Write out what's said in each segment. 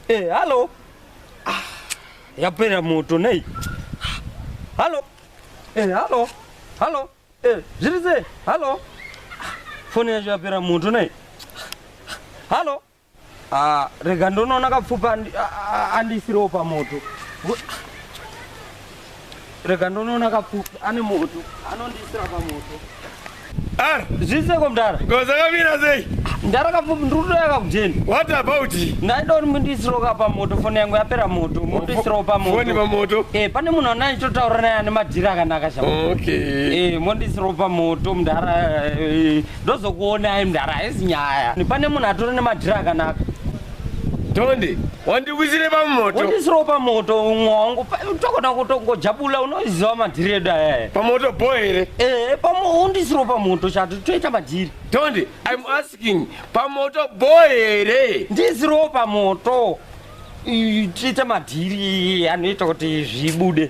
Eh, halo. Ah, yapera moto nei? Halo. Eh, halo. Halo. Eh, zviri sei? Halo. Foni yacho yapera moto nei? Halo. Ah, rega ndonoona kapfupa andi- a- a- andiisiriwo pamoto Ngo- rega ndonoona kapfupa ane moto anondiisira pamoto Ar, zviseko mdara goza kamira sei? mdara kapfupi ndiri kutoya kakujeni What about? ndaida kuti mundiisiriwo ka pamoto foni yangu yapera moto mondiisirawo Foni pamoto pamoto. Eh, pane munhu ana ndichotaura naye ane madhiri akanaka sha Okay. Eh, mondiisirawo pamoto mdara eh, ndozokuonai mdara haisi nyaya pane munhu atore nemadhiri akanaka tonde wandikwisire pamoto wandisiro pamoto umwe wangu tokona kutongojabula unoziva madhiri edu ayaya pamoto bo here ee eh, undisiro pamoto chati toita madhiri tonde im asking pamoto bo here ndisiro pamoto tiite madhiri anoita kuti zvibude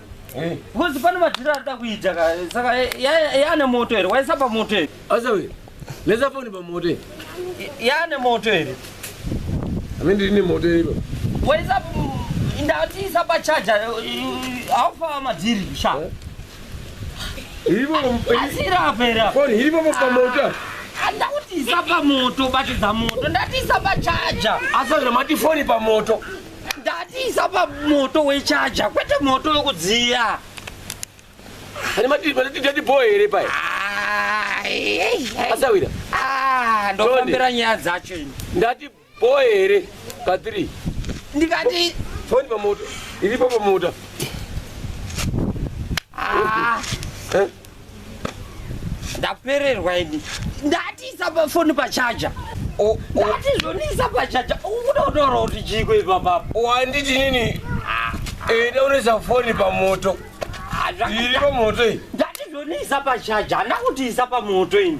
Eh. Because pane madhira arida kuita ka saka yaane moto here waisa pamoto here. Asawe lesa foni pamoto here. Yaane moto here. Ame ndiri nemoto here ipo. Waisa ndatiisa pachaja haufa madhiri sha. Eh? Iripo asira apa here apa. Foni iripo pamoto. Ah ndakutiisa pamoto batidza moto ndatiisa pachaja asazvira mati foni pamoto ndatiisa pamoto wechaja kwete moto wekudziya ane matidadi bho here paya asawira ah, ndofambira nyaya dzacho ndati bho here pa three ndikati foni pamoto iripo pamota ah. eh? ndapererwa ini ndatiisa pafoni pachaja ndatizvoniisa pachaja ukuda kutaura kuti chiiko ipapapo wanditi nini enda unoisa foni pamoto iri pamoto iyi ndatizvoniisa pachaja handakutiisa pamoto ini